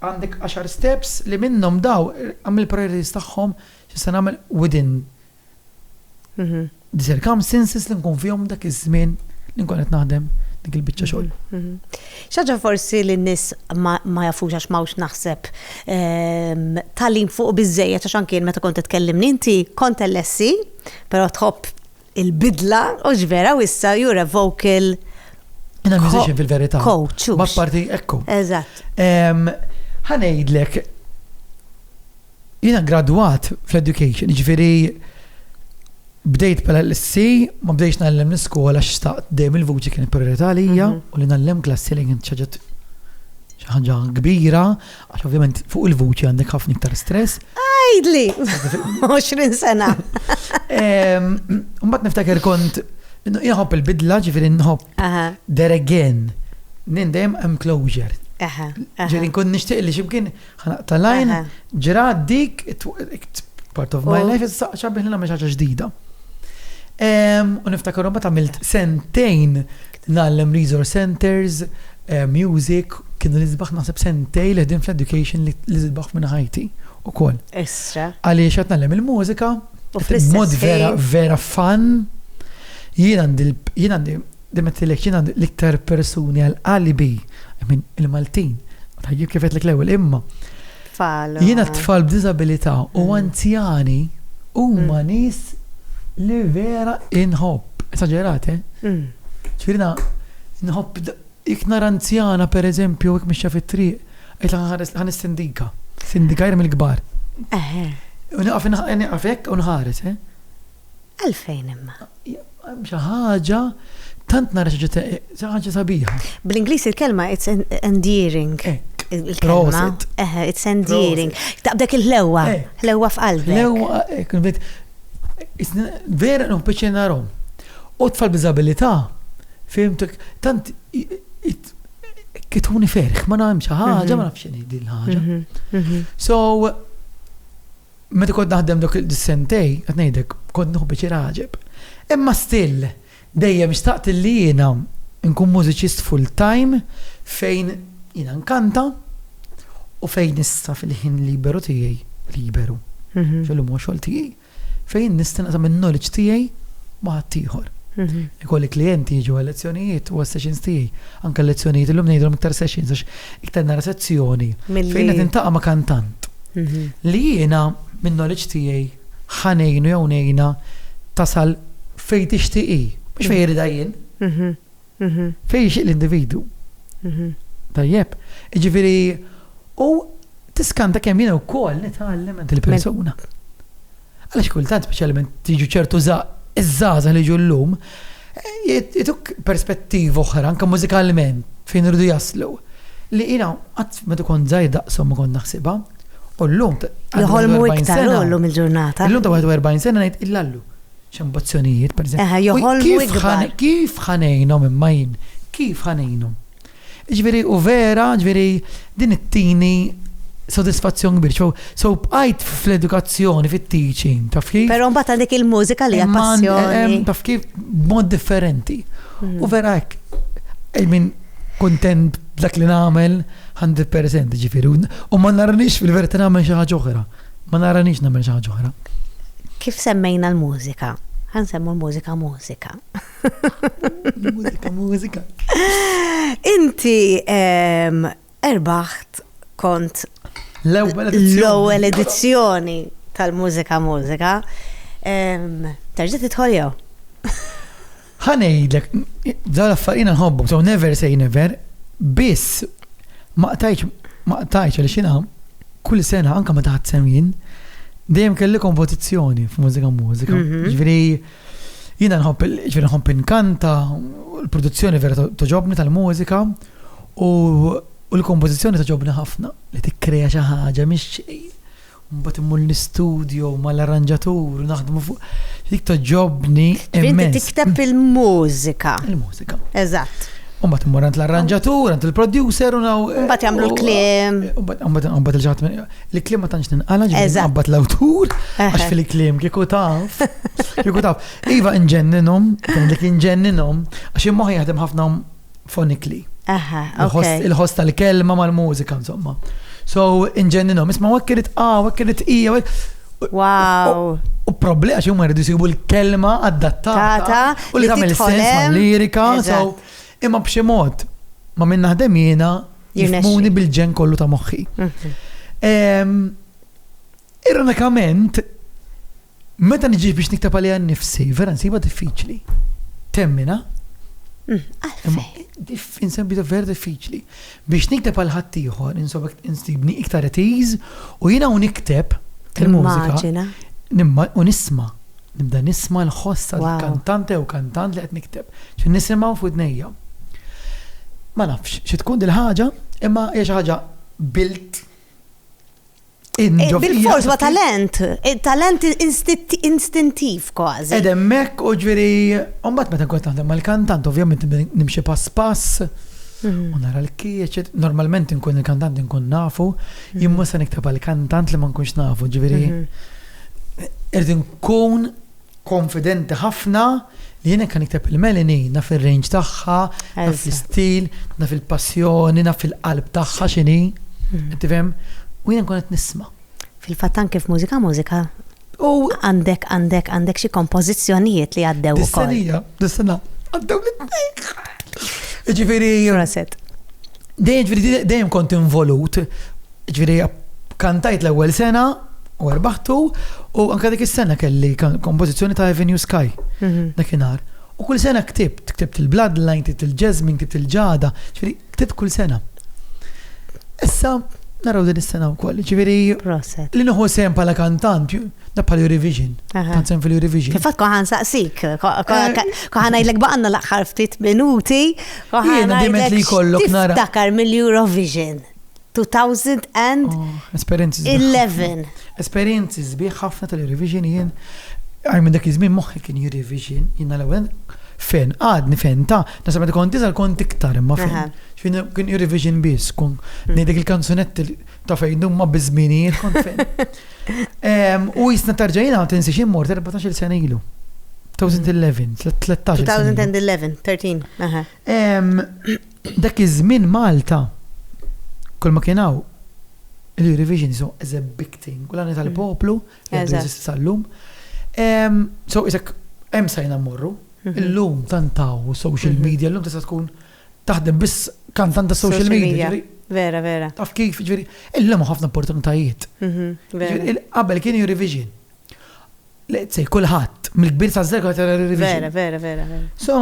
għandek għaxar steps li minnhom daw għamil priorities tagħhom X'se nagħmel within the circumstances li nkun fihom dak iż-żmien li nkun qed naħdem dik il-biċċa xogħol. Mhm, mhm. Xaġa forsi li n-nis ma jafux għax mawx naħseb ehm, tal-lim fuq bizzejet għax anki meta kont tkellimni inti kont l-essi, pero tħobb il-bidla u ġvera u issa jura vocal. Jena musician fil-verita. Coach. Ma parti ekku. Eżatt. Ehm, ħanejdlek Jiena gradwat fl-education, jiġifieri bdejt bħala l-SC, ma bdejtx ngħallem l-iskola x'taqt dejjem il-vuċi kienet priorità għalija mhm. u li ngħallem klassi li kien ċaġet xi ħaġa kbira, għax ovvjament fuq il-vuċi għandek ħafna iktar stress. Għajdli! 20 sena. Mbagħad niftakar kont jħobb il-bidla ġifieri nħobb there again. Nindem hemm closure. Ġifieri nkun nixtieq li ximkien Ħanaq tal-għajn, ġrat dik, part of my life, issa xabbih li nagħmel ħaġa ġdida. U niftakar bat għamilt sentejn nallem resource centers, eh, music, kienu l-izbaħ naħseb sentej li ħdim fl-education li l-izbaħ minn ħajti u koll. Issa. Għaliex għat nallem il-mużika, mod vera, vera fan, jien għandi Demettilek jien għandi l-iktar persuni għal qalbi, I mean il-Maltin, jien kif għedtlek l-ewwel imma. Tfal. Jiena tfal b'diżabilità u mm. anzjani huma mm. nies li vera inħobb, esaġerate. Eh? Mm. Ċirina, inħobb jek nara anzjana per eżempju jek mixja fit-triq, qed ħan is-sindika, sindika mill-kbar. Eħe. U naqaf naqaf hekk u nħares, eh? Għalfejn imma? Xi ħaġa tant nara xi ħaġa sabiħa. Bl-Ingliż il-kelma it's endearing. Il-kelma. It's endearing. Taqbdek il-ħlewwa. Ħlewwa f'qalbek. Ħlewwa, kunbit. Vera non peċe narom. U tfal b'izabilità, fimtek, tant kituni ferħ, ma nagħmel xi ħaġa, ma nafx din ħaġa. So, Meta kont naħdem dawk is-sentej, qed ngħidlek, kont nieħu biċir għaġeb. Imma still, dejjem xtaqt li jiena nkun mużiċist full time fejn jiena nkanta u fejn issa fil-ħin liberu tiegħi, liberu, fil-lum huwa xogħol tiegħi, fejn nista' naqsam in-knowledge tiegħi ma' ħaddieħor. Mhm. Ikolli klienti jiġu għal lezzjonijiet u sessions tiegħi. Anke lezzjonijiet illum ngħidhom iktar sessions għax iktar nara sezzjoni. Fejn qed intaqa' ma' kantant. li jiena min-knowledge tiegħi ħa ngħinu jew ngħinha tasal fejn tixtieq hi, mhux fejn iridha jien. Fejn jixtieq l-individwu. Tajjeb? Jiġifieri u tiskanta kemm jiena wkoll nitgħallem għand il-persuna. Għaliex kultant speċjalment jiġu ċertu żgħa, iż-żgħażagħ li jiġu llum, jagħtuk perspettiva oħra anke mużikalment fejn iridu jaslu, li jiena qatt meta kont żgħir daqshom ma kont naħsibha, u llum ta' Joħolmu iktar hu llum il-ġurnata. Illum ta' 41 sena ngħid illallu. X'ambizzjonijiet, pereżempju. Eħe, joħolmu iktar. Kif ħa ngħinhom imma jien? Kif ħa ngħinhom? Jiġifieri u vera, jiġifieri din ittini sodisfazzjon kbir. So, so bqajt fl-edukazzjoni, fit-teaching, taf kif? Però mbagħad għandek il-mużika li hija Imma għand- em, passjoni. taf kif b'mod differenti. U vera hekk, I mean, kuntent b'dak li nagħmel 100% ġifieri. U- U ma naranix fil-verità nagħmel xi ħaġa oħra. Ma naranix nagħmel xi ħaġa oħra. Kif semmejna l-mużika, ħa nsemmu l-mużika mużika. Mużika, mużika. Inti erbaħt kont l-ewwel edizzjoni tal-mużika mużika. Terġa' tidħol jew? Ħanejdlek, dan affarina nħobbu, so never say never, biss ma qtajċ ma qtajċ għal xina kull sena anka ma taħt semjin dejjem kelli kompetizzjoni f'mużika mużika. Mhm. Ġifieri Jiena nħobb, ġifieri nħobb inkanta, l-produzzjoni vera toġobni tal-mużika u l-kompożizzjoni toġobni ħafna li tikkreja xi ħaġa mhix xejn. Mbagħad immur l-istudio mal-arranġatur u naħdmu fuq. Dik toġobni. Inti tikteb il-mużika. Il-mużika. Eżatt. Umbat immur għand l-arranġatur, għand il-producer u naw. Umbat jagħmlu l-kliem. Umbat il-ġat li klima tanċ ninqala ġbir nqabbat l-awtur, għax fil-klim kiku taf, kiku taf. Iva nġenninhom, li kien ġenninhom, għax immoħi jaħdem ħafna fonikli. Il-ħost tal-kelma mal-mużika, insomma. So, inġenninhom, isma' għak kirit A, għak kirit I, Wow. U problema għax huma jridu jsibu l-kelma adattata. U li tagħmel sens mal-lirika. Imma b'xi mod, ma min naħdem jiena jifmuni bil-ġenn kollu ta' moħħi. Ironikament, meta niġi biex niktab għalija nifsi, vera nsiba diffiċli. Temmina? Mm, Diffin sembi vera diffiċli. Biex nikteb għal ħaddieħor insofek insibni iktar at ease u jiena u nikteb il-mużika u nisma' nibda nisma' l-ħoss tal-kantante jew kantant li qed nikteb. Xi nisimgħu f'widnejja. Ma nafx xi tkun dil-ħaġa imma hija xi ħaġa built Bil-fors ma talent, talent instintiv kważi. Edem mek u ġviri, umbat meta nkun naħdem mal-kantant, ovvjament nimxi pass pass, mhm. u nara l-kieċ, normalment nkun il-kantant nkun nafu, mhm. jimmu se niktab għal-kantant li ma nkunx nafu, ġviri, mhm. irdin nkun Konfidenti ħafna li jien hekk ħa nikteb il-Melanie, naf ir-range tagħha, naf l-istil, naf il-passjoni, naf il-qalb tagħha x'inhi, qed tifhem? U jien nkun qed nisma'. Fil-fatt anke f'Mużika Mużika għandek għandek għandek xi kompożizzjonijiet li għaddew ukoll. Dis-senija, dis-sena, għaddew l-itnejn. Jiġifieri. Proset. Dejjem kont involut Ġifieri kantajt l-ewwel sena u erbaħtu u anke dik is-sena kelli kompożizzjoni ta' Avenue Sky mhm. dakinhar. U kull sena ktibt, ktibt il-Bloodline, ktibt il-Jasmine, ktibt il-Ġada, ġifieri ktibt kull sena. Issa naraw din is-sena wkoll. Ġifieri li nieħu sem bħala kantant, da bħal Eurovision. Tant sem fil-Eurovision. Kif kont ħan saqsik, kont ngħidlek baqanna l-aħħar ftit minuti, kont ħan ngħidlek li jkollok nara. Tiftakar mill-Eurovision. 2011. Esperienzi zbieħ ħafna tal-revision jien. Għaj minn dak iż-żmien moħħi kien jirrevision, jiena l-ewwel fen, għadni fen ta' nasa meta kont diżel kont iktar imma fen. Xfin kien jirrevision biss, kun mm. ngħidek il-kanzunetti ta' fejn dumma biż-żminijiet kont fen. U jisna tarġajina għal tinsi xi mort 14 sena ilu. 2011. 2011, 13. Dak iż-żmien Malta, kulma kien hawn l-Eurovision jisimgħu as a big thing u l-għani tal-poplu li għadu jeżisti sal-lum. So isek hemm sajna mmorru, illum tant hawn social media, illum tista' tkun taħdem biss kantant ta' social media. Vera, vera. Taf kif, ġifieri, illum ħafna opportunitajiet. Qabel kien Eurovision. Let's say, kulħadd, mill-kbir sa' żgħar ta' revision. Vera, vera, vera, vera. So,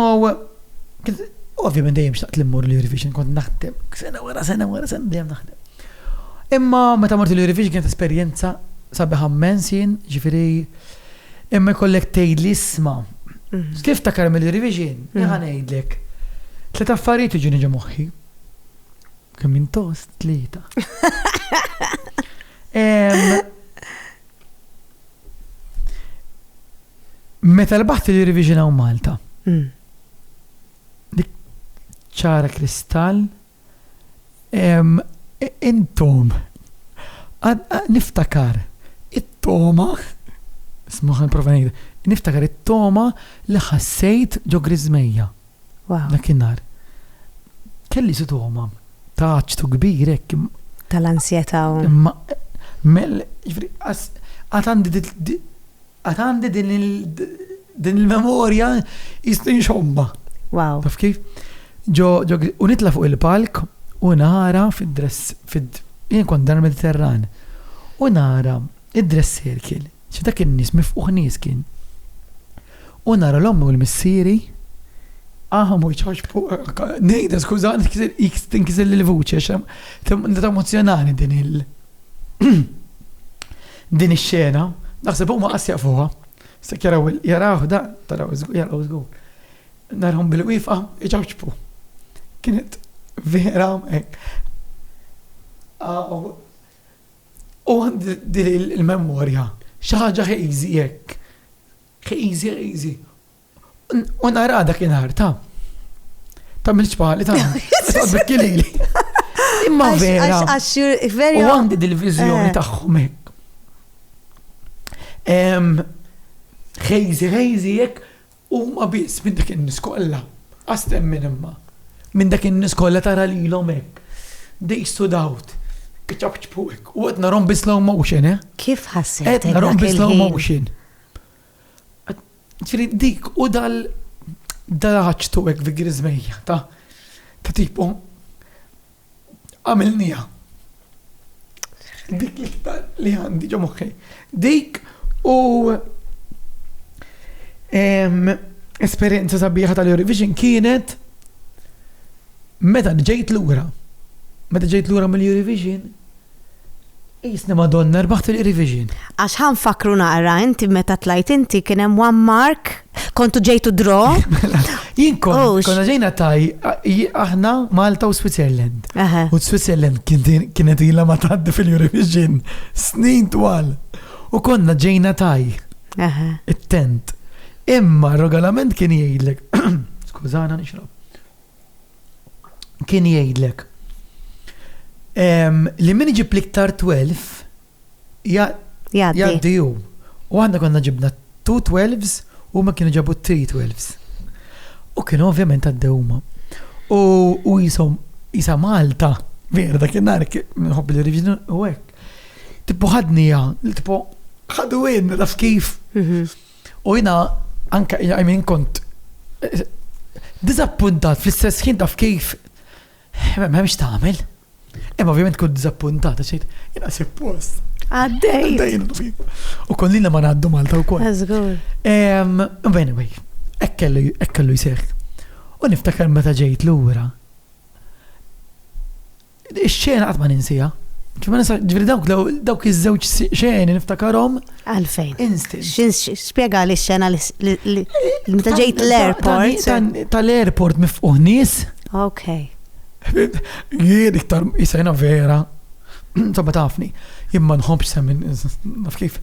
ovvjament dejjem xtaqt li mmur l-Eurovision kont naħdem, sena wara sena wara sena dejjem naħdem. Imma meta mort l-Eurovision kienet esperjenza sabiħa mmens jien, ġifieri imma jkollek tgħidli isma' mhm. kif ta' karmi l-Eurovision, mhm. jħan ngħidlek. Tliet affarijiet iġuni ġo moħħi. Kemm intost tlieta. Meta l-baħti li riviġinaw Malta. Mm. Dik ċara kristall. Intom. Niftakar. It-toma. Smuħan provanejda. Niftakar it-toma li ħassejt ġo grizmeja. Dakinhar kelli sitoma ta' ċtu kbir hekk. Tal-ansjetà. Imma mel, ġifri, għad għandi din il-memorja jistin xomba. Wow. Taf kif? Ġo, u nitla fuq il-palk u nara fid-dress, fid jien kont dan mediterran U nara Id-dress circle, xi dak in-nies mifqugħ nies kien. U nara l-ommi u l-missieri. Aha mhux George Paul, ngħidha skuża tinkiżilli l-vuċi għax nitgħu emozzjonani din il din ix-xena, naħseb huma qas jafuha. Se jaraw jaraw dan, taraw jaraw żgur. Narhom bil-wieqfa iċaċċbu. Kienet vera hekk. U għandi din il-memorja, xi ħaġa hazy hekk, hazy hazy. U nara dakinhar ta' ta' mill-ċpali ta' ta' bikkilili. Imma vera. U għandi dil-viżjoni eh. tagħhom hekk. Hazy hazy hekk Huma biss minn dak in-nies kollha, qas temmen imma, minn dak in-nies kollha tara lilhom hekk, they stood out, iċapċpu hekk, u qed narahom bi slow motion, eh. Kif ħassejtek dak il-ħin? Qed narahom bi slow motion. Ġifieri dik u dal dal-għaġtu hekk vigriżmejja ta' ta' tipo għamilniha. Dik l-iktar li għandi ġo moħħi. Dik u esperjenza sabiħa tal-Eurovision kienet meta ġejt lura. Meta ġejt lura mill-Eurovision, Qisni Madonna rbaħt il-Qrivision. Għax ħa nfakkru naqra inti meta tlajt inti kien hemm one mark, kontu ġejtu draw. Mela, jien kont konna ġejna taj aħna Malta u Switzerland. U Switzerland kienet ilha ma tgħaddi fil-Eurovision snin twal. U konna ġejna taj. It-tent. Imma r-regolament kien jgħidlek. Skużana nixrob. kien jgħidlek li min iġib l-iktar 12 jgħaddi hu. U aħna konna ġibna 2 12s u ma kienu ġabu 3 12s. U kienu ovvjament għaddew huma. U jisom jisa Malta, vera dak il-nar, minħobb li rivġinu u hekk. Tipo ħadnija, tipo ħadu għin, naf kif. Mhm. U jiena anke I mean kont diżappuntat fl-istess ħin taf kif m'hemmx tagħmel. Imma ovvjament kont diżappuntat għax jiena suppost. Għaddej. U kollina ma ngħaddu Malta wkoll. Żgur. Anyway, hekk kellu jseħħ. U niftakar meta ġejt lura. Ix-xena qatt ma ninsiha. Ġifieri dawk dawk iż-żewġ xeni niftakarom. Għalfejn? Instinct. Spjega li x-xena li meta ġejt l-airport. Tal-airport mifquħ nies. Ok. Jien iktar jisajna vera. Sabba tafni. Jien ma nħobbx semmin naf kif.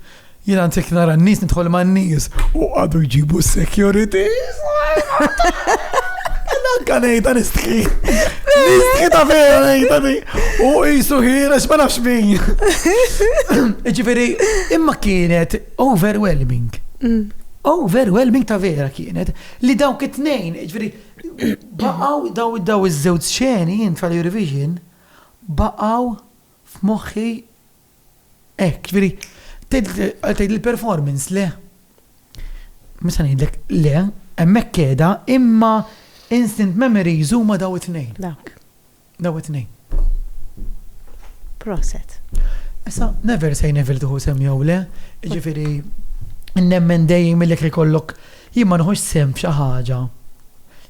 Jien għantik nara n-nies nidħol ma' n-nies u għadu jġibu s-security. Nanka nejda nistħi. Nistħi ta' vera nejda di. U jisu ħira xma nafx min. Ġifiri, imma kienet overwhelming. Mm. Overwhelming ta' vera kienet li dawk it-tnejn, ġifiri, baqaw daw daw iż-żewġ ċeni jien tal-Eurovision baqaw f'moħħi Hekk, jiġifieri tgħid li l-performance le. Mhux se ngħidlek le, hemmhekk qiegħda, imma instant memories huma daw it-tnejn. Dawk. Daw it-tnejn. Proset. Issa, never say never tuħu sem jew le, jiġifieri nemmen dejjem li jkollok jien ma nħux sem f'xi ħaġa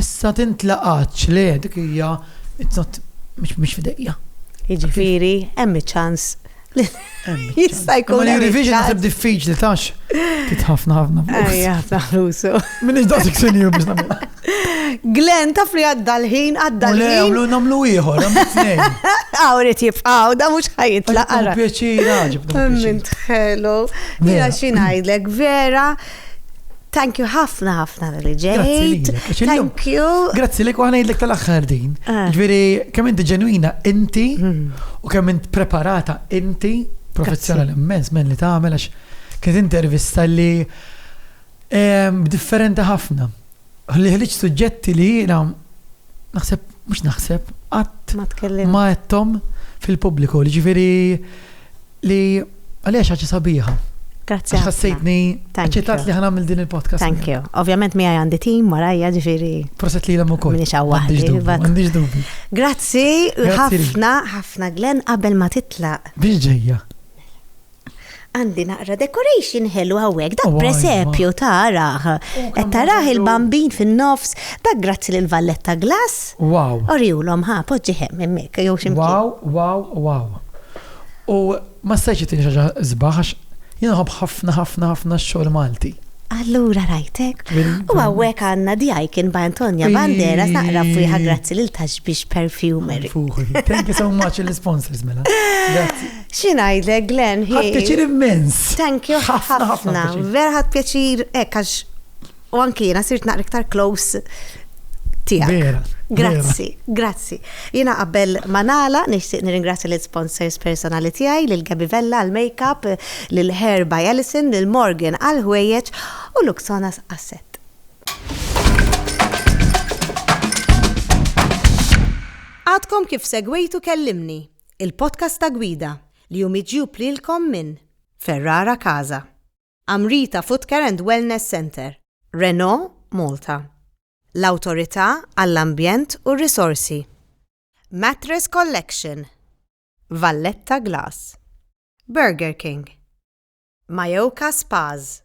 Issa tintlaqatx, le, dik hija, it's not, mhix f'idejja. Jiġifieri, hemm iċ-ċans li jista' jkun. Imma l-Eurovision naħseb diffiċli tax tit ħafna ħafna flus. Ejja, ħafna flus. Minix daqsik senjur biex nagħmel. Glenn taf li għadda l-ħin, għadda l-ħin. Le, għamlu namlu ieħor, għamlu t-tnejn. Għawrit jibqaw, da mux ħajitla. Għara. Pjaċira, ġibda. Minn tħelu. Mela xinajdlek, vera. Thank you ħafna ħafna li ġejt. Grazzi lilek. Thank you. Grazzi lilek u ħanajdlek tal-aħħar din. Ah. Ġviri, kemm inti ġenwina inti hmm. u kemm int preparata inti professjonal immens men li tagħmel għax kienet intervista li ehm, differenti ħafna. Li ħliġ suġġetti li jiena naħseb mhux naħseb qatt ma tkellim ma fil-pubbliku. Ġifieri Li għalija xaġa sabiħa. Grazzi. Ħassejtni ċitat li ħanamil din il-podcast. Thank you. Ovvjament mi għandi tim warajja ġifiri. Proset li l u kol. Minix għawwa. Għandix dubi. Grazzi, ħafna, ħafna Glenn qabel ma titla. Biex ġejja. Għandi naqra decoration ħelu għawek, da presepju taraħ. Et taraħ il-bambin fin-nofs, da grazzi l-valletta glass. Wow. Oriulom ħa, poġġiħem emmek, jow ximkien. Wow, wow, wow. U ma stajtx ittini xi ħaġa sbaħ għax jien nħobb ħafna ħafna ħafna x-xogħol Malti. Allura rajtek. U hawnhekk għandna the icon by Antonia Banderas naqra f'wieħa grazzi lil Tashbish Perfumery. Thank you so much lill-isponsors mela. Grazzi. Xi ngħidlek Glenn, hi. Ħadt pjaċir immens. Thank you ħafna. Vera ħadt pjaċir hekk għax U anki jiena sirt naqra iktar close tiegħek. Vera. Grazzi, grazzi. Jiena qabel ma nagħla nixtieq nirringrazzja lil sponsors personali tiegħi, lil Gabby Vella għall-makeup, lil Hair by Alison, lil Morgan għall-ħwejjeġ u Luxonas għas-sett. Għadkom kif segwejtu Kellimni, il-podcast ta' gwida li hu miġjub lilkom minn Ferrara Casa. Amrita Footcare and Wellness Centre, Renault Malta, l-Awtorità għall-Ambjent u r-Risorsi, Mattress Collection, Valletta Glass, Burger King, Mayoka Spas,